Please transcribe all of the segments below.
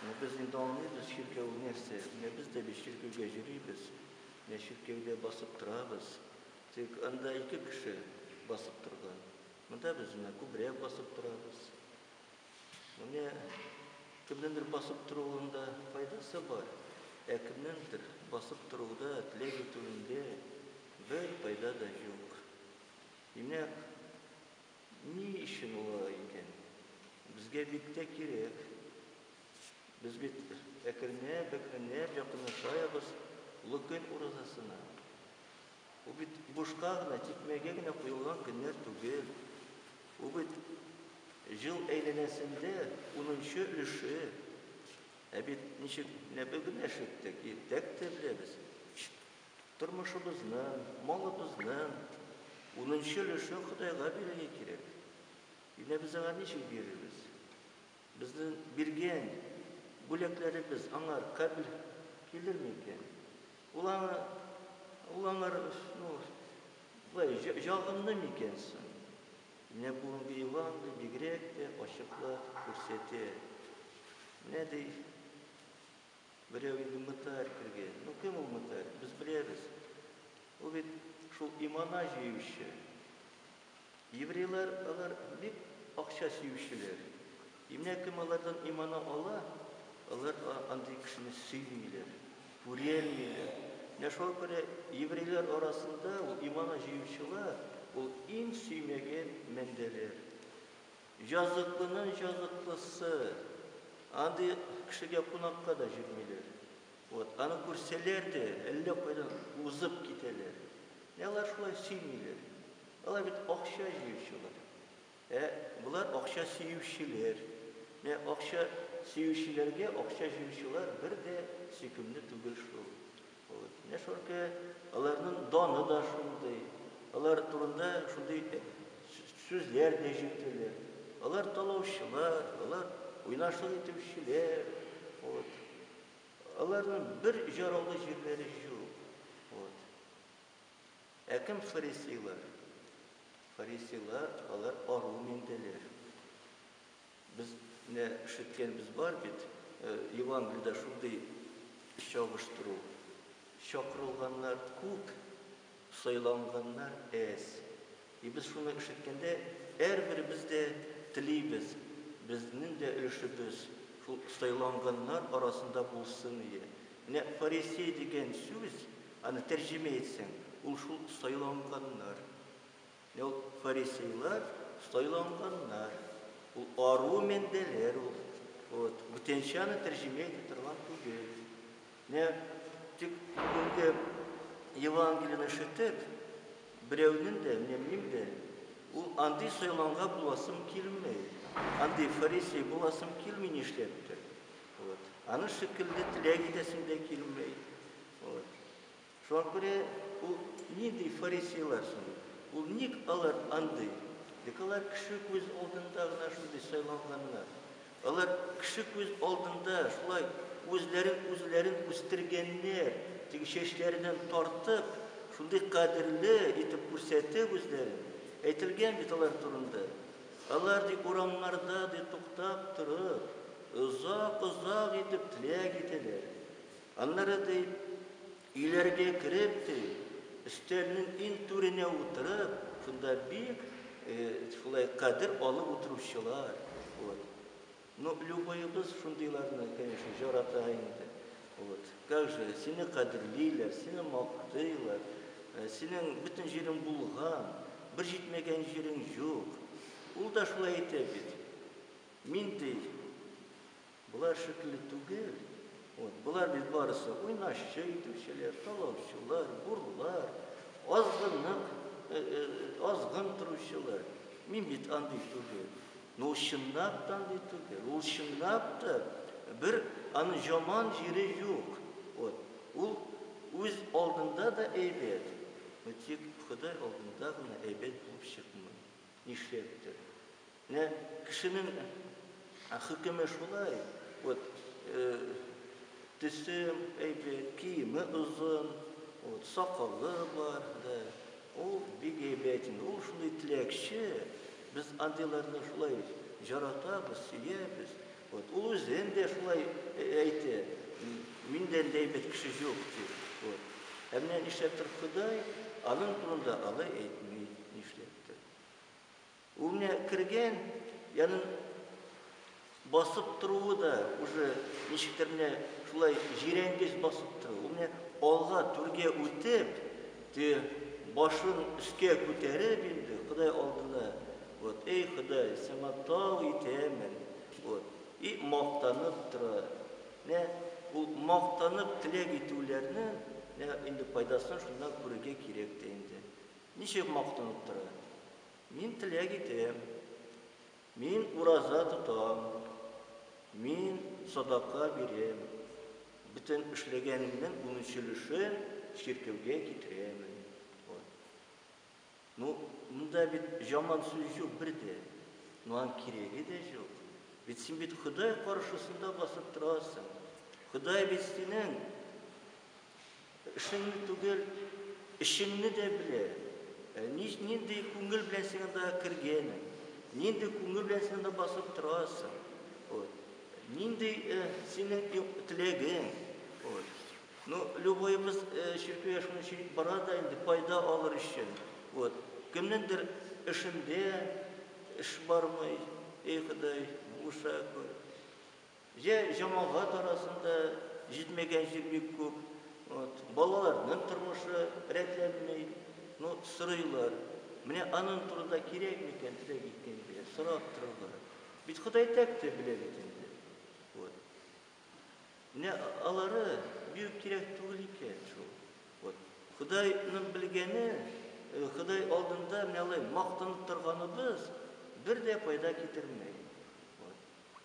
Менә без инде аңлыйбыз чиркәү нәрсә. Менә без дә бит чиркәүгә йөрибез. Менә чиркәүдә басып торабыз. Тик анда ике кеше басып торган. Монда без менә күбрәк басып торабыз. Менә кемнеңдер басып торуында файдасы бар, ә кемнеңдер басып торуда, теләк итүендә бер файда да юк. Димәк, Ни өчен ул алай икән? Безгә бик тә кирәк. Без бит әкренләп, әкренләп якынлашаебыз Олы көн уразасына. Бу бит бушка гына, тикмәгә генә куелган көннәр түгел. Бу бит җыл әйләнәсендә унынчы өлеше. Ә бит ничек генә бөгеләшеп тә, иртәк тә беләбез. Тормышыбызның, малыбызның унынчы өлешен Ходайга бирергә кирәк. Менә без аңа ничек бирербез? Безнең биргән бүләкләребез аңар кабел килерме икән? Ул аңа, ул аңар, ну, болай, ягымлы микән соң? Менә бүгенге Евангелие бигрәк тә ачыклап күрсәтә. Менә ди. Берәү инде мытарь кергән. Ну кем ул мытарь? Без беләбез. Ул бит шул имана җыючы. Еврейлар алар бик акча сөючеләр. И менә кем алардан имана ала, алар андый кешене сөймиләр, күрәлмиләр. Менә шуңа күрә еврейлар арасында ул имана җыючылар ул иң сөймәгән мәндәләр. Җазыклының җазыклысы. Андый кешегә кунакка да җөрмиләр. Вот, аны күрсәләр дә, әллә кайдан узып китәләр. Менә алар шулай сөймиләр. Алар бит акча җыючылар. Ә болар акча сөючеләр. Менә акча сөючеләргә акча җыючылар бер дә сөйкемле түгел шул. Менә шулкы аларның даны да шундый, алар турында шундый сүзләр дә җитәләр. Алар талаучылар, алар уйнашлык итүчеләр. Вот. Аларның бер җараулы җирләре юк. Вот. Ә кем фарисейлар? Фарисейлар алар ару миндәләр. Без нә ишеткәнбез бар бит, Евангелиедә шундый чагыштыру, Чакырылганнар күп, сайланганнар әз. И без шуны ишеткәндә, әрберебез дә телибез, безнең дә өлешебез шул сайланганнар арасында булсын ие. Менә фарисей дигән сүз, аны тәрҗемә итсәң, ул шул сайланганнар. Ул фарисейлар сайланганнар. Ул ару мендәләр ул. Вот. Бүтәнчә аны тәрҗемә итә торган түгел. Менә тик бүгенге Евангелияне ишетеп, берәүнең дә, менә минем дә, ул андый сайланга буласым килми. Андый фарисей буласым килми нишләптер. Вот. Аны шикелле теләк итәсем дә килми. Вот. Шуңа күрә ул нинди фарисейлар соң? Ул ник алар андый? Бик алар кеше күз алдында гына шундый сайланганнар. Алар кеше күз алдында шулай үзләрен үзләрен үстергәннәр, теге чәчләреннән тартып, шундый кадерле итеп күрсәтеп үзләрен. Әйтелгән бит алар турында. Алар, ди, урамнарда, ди, туктап торып, озак-озак итеп теләк итәләр. Аннары, ди, өйләргә кереп, ди, өстәлнең иң түренә утырып, шунда бик шулай кадер алып утыручылар, вот. Ну, любоебыз шундыйларны, конечно, җарата инде. Вот. Как же, сине кадерлиләр, сине мактыйлар, синең бөтен җирең булган, бер җитмәгән җирең юк. Ул да шулай әйтә бит. Мин, ди, Болар шикелле түгел. Вот, болар бит барысы уйнашчы итүчеләр, талаучылар, бурлар, азгынлык, азгын торучылар. Мин бит андый түгел. Ну, чынлап та андый түгел. Ул чынлап та бер аны жаман җире юк. Вот, ул үз алдында да әйбәт. Ну, тик Ходай алдында гына әйбәт булып чыкмый. Нишләптер. Менә кешенең хөкеме шулай, вот төсе әйбәт, киеме озын, вот сакалы бар, да, ул бик әйбәт инде, ул шундый теләкче, без андыйларны шулай җаратабыз, сөябез, вот ул үзен дә шулай әйтә, миндән дә әйбәт кеше юк дип, вот. Ә менә нишләптер Ходай аның турында алай әйтми, нишләптер. Ул менә кергән, янын басып торуы да уже ничектер менә шулай җирәнгеч басып тора. Ул менә алга түргә үтеп, те башын өскә күтәреп инде Ходай алдына, вот, эй, Ходай, сиңа тау итәмен, вот, и мактанып тора. Менә ул мактанып теләк итүләрне менә инде файдасын шуннан күрергә кирәк тә инде. Ничек мактанып тора? Мин теләк итәм. Мин ураза тотам. Мин садака бирәм. Бөтен эшләгәнемнең унөч өлешен чиркәүгә китерәмен. Вот. Ну, монда бит жаман сүз җук бер дә. Ну, аның кирәге дә җук. Бит син бит Ходай каршысында басып торасың. Ходай бит синең. Эшеңне түгел, эчеңне дә белә. Нич, нинди күңел белән син анда кергәнең, нинди күңел белән син анда басып торасың, вот. Нинди синең ю, теләгең, вот. Ну, любоебыз чиркәүгә шуның өчен бара да инде, файда алыр өчен, вот. Кемнеңдер эшендә эш бармый, әй Ходай, булыша күр. Йә җәмәгать арасында җитмәгәнчелек бик күп, вот, балаларның тормышы рәтләнми, ну, сорыйлар, менә аның турында кирәкме икән теләк иткәнгә сорап торырга, бит Ходай тәк тә белә бит инде, вот. Менә алары бик үк кирәк түгел икән шул, вот. Ходайның белгәне, Ходай алдында менә алай мактанып торганыбыз бер дә файда китермәй, вот.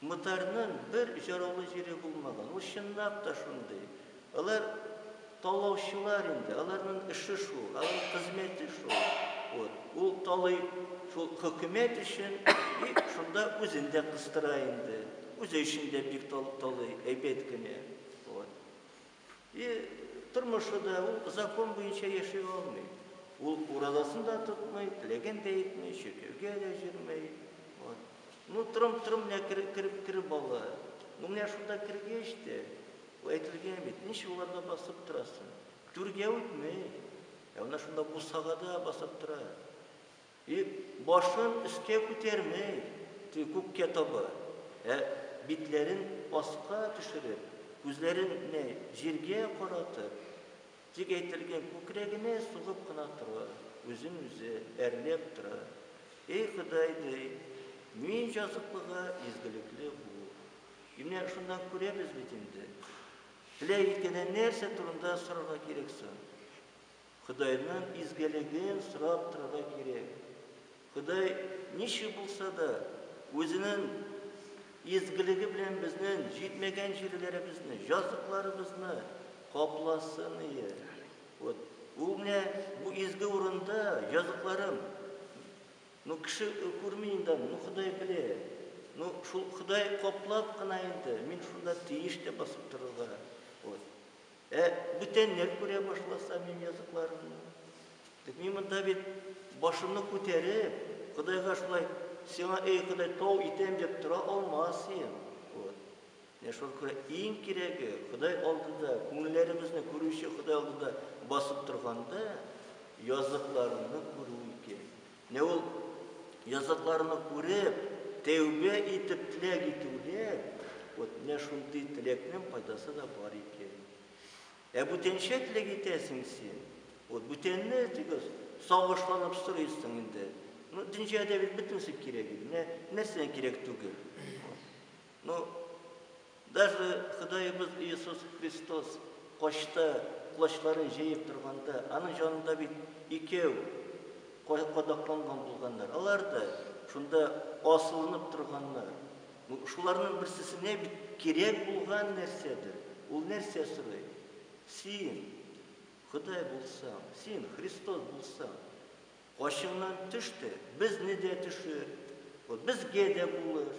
Мотарның бер җыраулы җире булмаган. Ул чынлап та шундый. Алар талаучылар инде, аларның эше шул, аларның хезмәте шул. Вот. Ул талый шул хөкүмәт өчен и шунда үзен дә кыстыра инде. Үзе өчен дә бик талый, әйбәт кенә. Вот. И тормышы да, ул закон буенча яши алмый. Ул уразасын да тотмый, теләген дә итми, чиркәүгә дә җөрмәй. Вот. Ну, трым-трым менә кереп, кереп, кереп бала. Ну, менә шунда кергәч тә, ул әйтелгән бит, ничек уларда басып торасың? Түргә үтмәй. Ә менә шунда бусагада басып тора. И башын өскә күтәрмәй, ти күккә таба, ә битләрен аска төшереп, күзләрен нә җиргә каратып, тик әйтелгән күкрәгенә сугып кына тора, үзен үзе әрләп тора, Эй Ходай, ди, мин җазыклыга изгелекле бул. И менә шуннан күрәбез бит инде, теләк иткәнен нәрсә турында сорарга кирәк соң? Ходайның изгелеген сорап торырга кирәк. Ходай ничек булса да, Үзенең изгелеге белән безнең җитмәгән җирләребезне, җазыкларыбызны капласын ие. Вот, ул менә бу изге урында җазыкларым. Ну, кеше күрми инде, ну, Ходай белә. Ну, шул Ходай каплап кына инде, мин шунда тиеш тә басып торырга. Вот. Ә бүтәннәр күрә башласа минем языкларымны? Дип, мин монда бит башымны күтәреп, Ходайга шулай, Сиңа, эй Ходай, тау итәм дип тора алмас идем. Вот. Менә шуңа күрә иң кирәге, Ходай алдында, күңелләребезне күрүче Ходай алдында басып торганда, языкларыңны күрү икән. Менә ул языкларны күреп, тәүбә итеп теләк итүләр, вот менә шундый теләкнең файдасы да бар икән. Ә бүтәнчә теләк итәсең син, вот бүтәнне тигез сагышланып сорыйсың инде. Ну, дөньяда бит бөтенесе кирәк инде, менә нәрсә кирәк түгел. Ну, Даже Ходаебыз Иисус Христос качта, колачларын җәеп торганда, Аның җанында бит икәү кадакланган булганнар. Алар да шунда асылынып торганнар. Шуларның берсесенә бит кирәк булган нәрсәдер. Ул нәрсә сорый? Син Ходай булсаң, син Христос булсаң, качыңнан төш тә, безне дә төшер, безгә дә булыш.